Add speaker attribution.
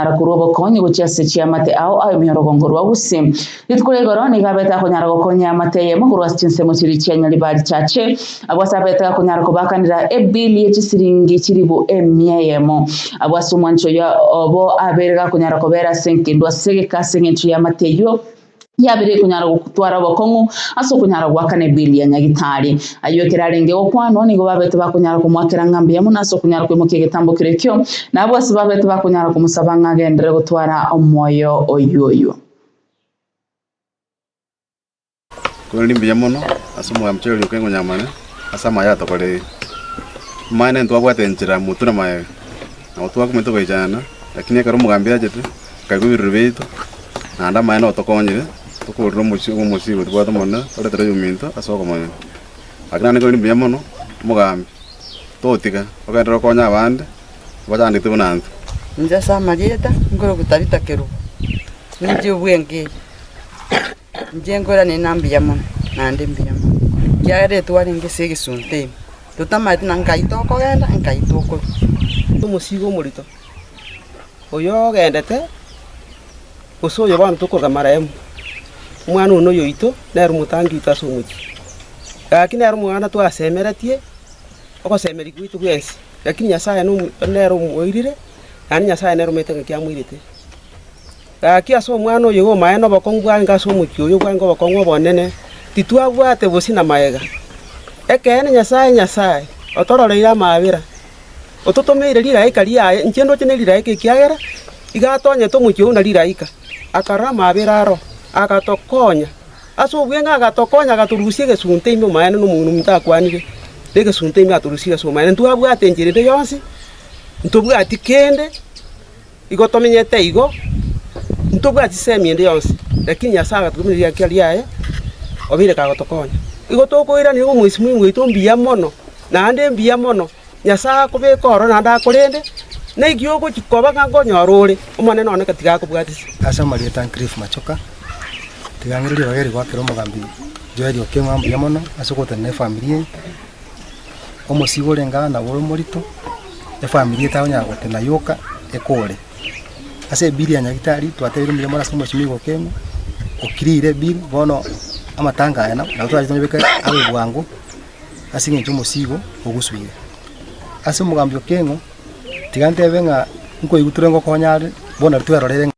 Speaker 1: ara korwa obokonyi gochia ase chiamate ao a emiorogongo rwa gose. Rituko ria igoro nigo abete akonyara gokonya amate eyemo korwa ase chinsemo chiria chia nyaribari richache, abwo ase abete akonyara kobakanera ebili ye chisiringi chilifu emia eyemo. Abwo ase omwancho oyo obo abeire gakonyara kobera ase enkindu ase egeka ase engencho y'amate eyio, Yabire ekonyara gotwara obokong'u ase okonyara goakana ebeli ya Nyagitari. Ayio ekero arenge gokwanwa nigo babete bakonyara komoakera ng'a mbuya mono ase okonyara koimokia egetambo keria ekio, na abwo ase babete bakonyara komosaba ng'a agenderere gotwara omoyo oyoyio.
Speaker 2: Korende ni mbuya mono ase omogambi oito orioka ekonyamana ase amaye atokorerire. Amaene ntwabwate enchera moture maega, na gotwaka omanyete goechanana, lakini ekero omogambi achete, nkaigwa ebirori biaito, naende amaene otokonyire, tokoorire omochie bwa omosibwa otobwate omonene orente roiyo ominto ase okomonywa. Gaki naende nkaigwa biri mbuya mono, omogambi, totiga, ogenderere okonye abande abachandete buna intwe. Inche ase
Speaker 3: amarieta nkorokwa Tabita Kerubo, ninche obwengeye. Inche nkoirania ng'a mbuya mono, naende mbuya mono, ekiagera etuo arenge ase egesunte ime, totamaete na nkai tokogenda, nkai tokorua. Omosibwa omorito. “Oyogendete, gose oyo bono tokogama remu, omwana one oyoito nere omotangi oito ase omochie, gaki nere omoganda twasemeretie ogosemeria gwaito bwensi. Lakini Nyasae nere omoirire, naende Nyasae nere omanyete ng'aki amoirete. Gaki ase omwana oyo iga omae nobokong'u bwange ase omochie oyo bwange obokong'u obonene, titwabwate bosio na magega. Ekeene Nyasae, Nyasae, otororeire amaabera. ototomeire rigaika riaye, inche ndoche ne rigaika ekiagera iga atonyete omochie oo na rigaika, akarora amaabera aro, agatokonya. Ase obweng'e agatokonya, agatorusia egesunte ime omaene na omong'ina omonto akwanire negesunte ime atorusirie ase omaene. Ntwabwate enchera ende yonsi, ntobwati kende. Igo tomenyete igo, ntitobwati isemi ende yonsi, lakini Nyasae agatotoma erieta riaye, obeire kagotokonya. Igo tokoiraneria ng'a omwesimwa oito mbuya mono, naende mbuya mono, Nyasae akobeke ororo naende akorende, na ekio ogochia koba ng'a nkonyora ore, Omonene one tiga akobwatise. Ase amarieta a Cliff
Speaker 4: Machoka, tigang'ireri ebageri goakera omogambi Joel Okengo ng'a mbuya mono ase ogotenena efamiri eye. omosiibe orenge aa nabo ore omorito, efamiri etari konyara gotena yoka ekore. Ase ebiri ya nyagetari twatebire omonyene ase omochie nigo okeene, o clear ebiri, bono amatanga aya nabo nabo twachete tobeke abe bwango ase eng'encho omosiibe igo ogosuire. Ase omogambi okeng'u, tiga ntebe ng'a nkoigwa tore ngokonya are, bono riria twerorire ng'a.